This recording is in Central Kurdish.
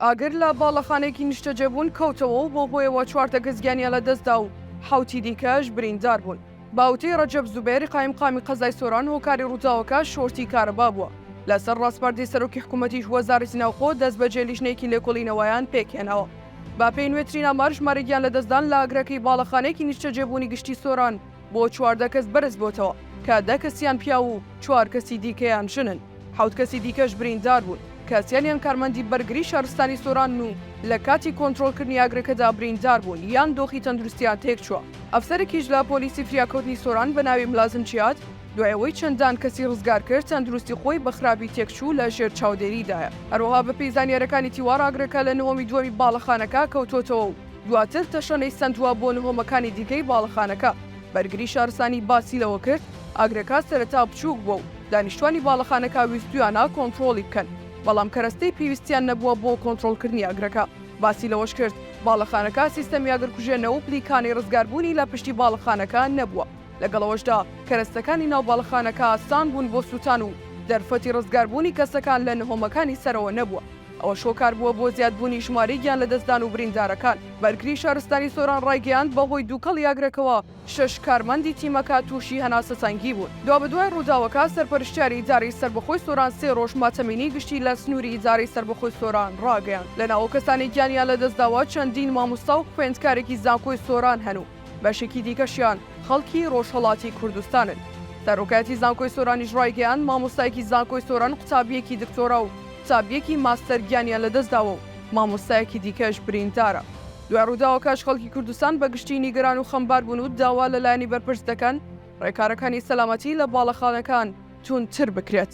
ئاگر لە باڵەخانەیەکی نیشتەجێبوون کەوتەوە و بەو هۆیەوە چوار تەکەس گیانیان لەدەستدا و حەوتی دیکەش بریندار بوون. بە وتەی رەجەب زوبێر، قایمقامی قەزای سۆران، هۆکاری رووداوەکە شۆرتی کارەبا بووە. لەسەر راسپاردەی سەرۆکی حکوومەتیش وەزارەتی ناوخۆ دەستبەجێ لیژنەیەکی لێکۆڵینەوەیان پێکهێناوە. بەپێی نوێترین ئامار ژمارە گیانلەدەستدان لە ئاگرەکەی باڵەخانەیەکی نیشتەجێبوونی گشتی سۆران، بۆ چواردە کەس بەرز بۆتەوە کە دە کەسیان پیاو و چوار کەسی دیکەیان ژنن، حەوت کەسی دیکەش بریندار بوون کە سیانیان کارمەندی بەرگری شارستانی سۆرانن و لە کاتی کۆنترۆڵکردنی ئاگرەکەدا بریندار بوون یان دۆخی تەندروستیان تێکچووە. ئەفسەرێکیش لە پۆلیسی فریاکەوتنی سۆران بە ناوی ملازم جیاد دوای ئەوەی چەندان کەسی ڕزگار کرد تەندروستی خۆی بە خراپی تێکچوو لە ژێر چاودێریدایە. هەروەها بەپێی زانیارەکانی تیوار ئاگرەکە لە نهۆمی دووەمی باڵەخانەکە کەوتۆتەوە و دواتر تەشەنەی سەندوە بۆ نهۆمەکانی دیکەی باڵەخانەکە. بەرگری شارستانی باسی لەوە کرد، ئاگرەکە سەرەتا بچووک بووە و دانیشتوانی باڵەخانەکە ویستویانە کۆنتڕۆڵی بکەن، بەڵام کەرەستەی پێویستیان نەبووە بۆ کۆنتڕۆڵکردنی ئاگرەکە. باسی لەوەش کرد، باڵەخانەکە سیستەمی ئاگرکوژێنە و پلیکانەی ڕزگاربوونی لە پشتی باڵەخانەکە نەبووە، لەگەڵ ئەوەشدا کەرەستەکانی ناو باڵەخانەکە ئاسان بوون بۆ سووتان و دەرفەتی ڕزگاربوونی کەسەکان لە نهۆمەکانی سەرەوە نەبووە. ئەوەش هۆکار بووە بۆ زیادبوونی ژمارەی گیانلەدەستدان و بریندارەکان. بەرگری شارستانی سۆران ڕایگەیاند، بەهۆی دووکەڵی ئاگرەکەوە شەش کارمەندی تیمەکە تووشی هەناسەتەنگی بوون. دوابەدوای ڕووداوەکە، سەرپەرشتیاری ئیدارەی سەربەخۆی سۆران سێ ڕۆژ ماتەمینیی گشتی لە سنووری ئیدارەی سەربەخۆی سۆران ڕاگەیاند. لە ناوە کەسانی گیانیان لەدەستداوە چەندین مامۆستا و خوێندکارێکی زانکۆی سۆران هەن و، بەشێکی دیکەشیان خەڵکی ڕۆژهەڵاتی کوردستانن. سەرۆکایەتی زانکۆی سۆرانیش ڕایگەیاند، مامۆستایەکی زانکۆی سۆران قوتابییەکی دکتۆرا و قوتابییەکی ماستەر گیانیان لەدەستداوە و مامۆستایەکی دیکەش بریندارە. دوای ڕووداوەکەش خەڵکی کوردستان بە گشتی نیگەران و خەمبار بوون و داوا لە لایەنی بەرپرس دەکەن ڕێکارەکانی سەلامەتی لە باڵەخانەکان توندتر بکرێت.